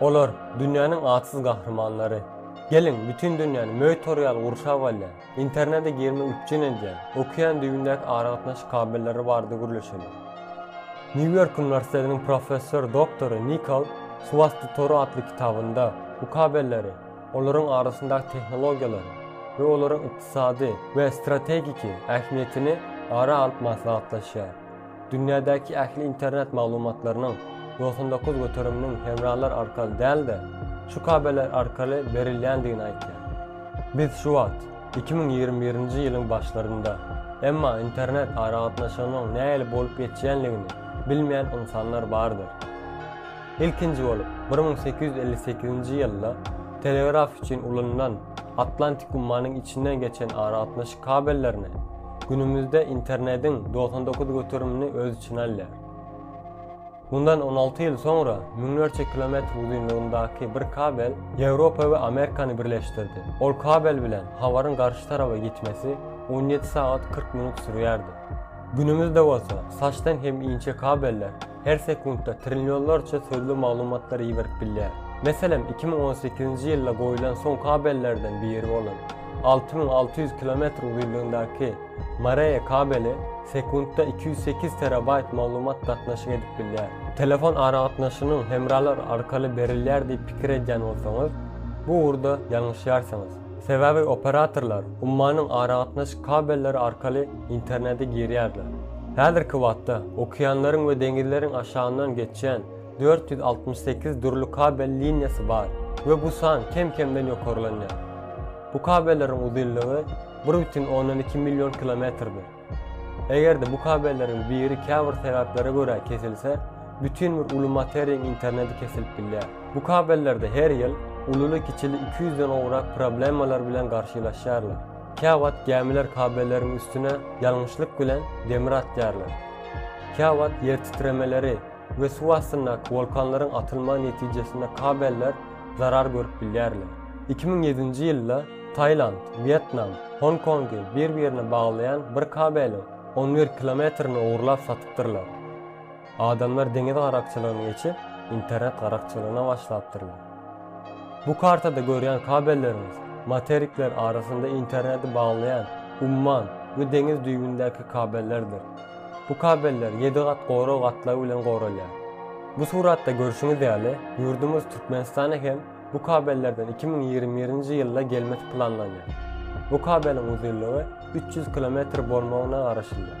Olar dünýäniň atsyz gahrymanlary. Geliň, bütin dünýäni möý toraýaly gurşap alýan, Internete girme üpjün edýän, okean düýbündäki aragatnaşyk kabelleri barada gürleşeli. Nýu-Ýork uniwersitetiniň professor doktory Nikol Suwasty tory atly kitabynda bu kabelleri, olaryň arasyndaky tehnologiýalary we olaryň ykdysady we strategiki ähmiýetini ara alyp maslahatlaşýar. Dünýädäki ähli internet maglumatlarynyň doksan dokuz göteriminiň hemralar arkaly däl-de, şu kabeller arkaly berilýändigini aýdýar. Biz şu wagt, iki müň ýigrimi birinji ýylyň başlarynda, emma internet aragatnaşygynyň nähili bolup geçýänligini bilmeýän ynsanlar bardyr. Ilkinji bolup, bir müň sekiz ýüz elli sekizinji ýylda telegraf üçin ulanylan Atlantik ummanyň içinden geçen aragatnaşyk kabellerine, Günümüzde internediň dogsan dokuz göterimini öz içine alýar. Mundan on alty ýyl soňra müňlerçe kilometr uzynlygyndaky bir kabel Ýewropa we Amerikany birleşdirdi. Ol kabel bilen habaryň garşy taraba ýetmesi on ýedi sagat kyrk minut sürýärdi. Günümüzde bolsa saçdan hem inçe kabeller her sekuntda trillionlarça sözli maglumatlary iberip bilýär. Meselem, iki müň on sekizinji ýylda goýlan son kabellerden biri bolan alty müň alty ýüz kilometr uzynlygyndaky Mareýe kabeli sekuntda iki ýüz sekiz terabaýt maglumat gatnaşyk edip bilýär. Telefon aragatnaşygynyň hemralar arkaly berilýär diýip pikir edýän bolsaňyz, bu ugurda ýalňyşýarsyňyz. Sebäbi operatorlar ummanyň aragatnaşyk kabelleri arkaly internete girýärler. Häzirki wagtda okeanlaryň we deňizleriň aşagyndan geçýän dört ýüz altmyş sekiz dürli kabel liniýasy bar we bu san kem-kemden ýokarlanýar. Bu kabelleriň uzynlygy bir bütin ondan iki million kilometrdir. Eger-de bu kabelleriň biri käbir sebäplere görä kesilse, bütin bir uly materiýaň interneti kesilip bilýär. Bu kabellerde her ýyl ululy-kiçili iki ýüzden gowrak problemalar bilen garşylaşýarlar. Käwagt gämiler kabelleriň üstüne ýalňyşlyk bilen demir atýarlar. Käwagt ýertitremeleri we suw astyndaky wolkanlaryň atylmagy netijesinde kabeller zarar görüp bilýärler. Iki müň ýedinji ýylda Tailand, Wýetnam, Hong Kongy bir-birine baglaýan bir kabeliň on bir kilometrini ogurlap satypdyrlar. Adamlar deňiz garakçylygyny geçip, internet garakçylygyna başlapdyrlar. Bu kartada görýän kabelleriňiz materikler arasynda interneti baglaýan umman we deňiz düýbündäki kabellerdir. Bu kabeller ýedi gat gorag gatlagy bilen goralýar. Bu suratda görşüňiz ýaly, ýurdumyz Türkmenistana hem Bu kabellerden iki müň ýigrimi birinji ýylda gelmesi planlanýar. Bu kabeliň uzynlygy üç ýüz kilometr bolmagyna garaşylýar.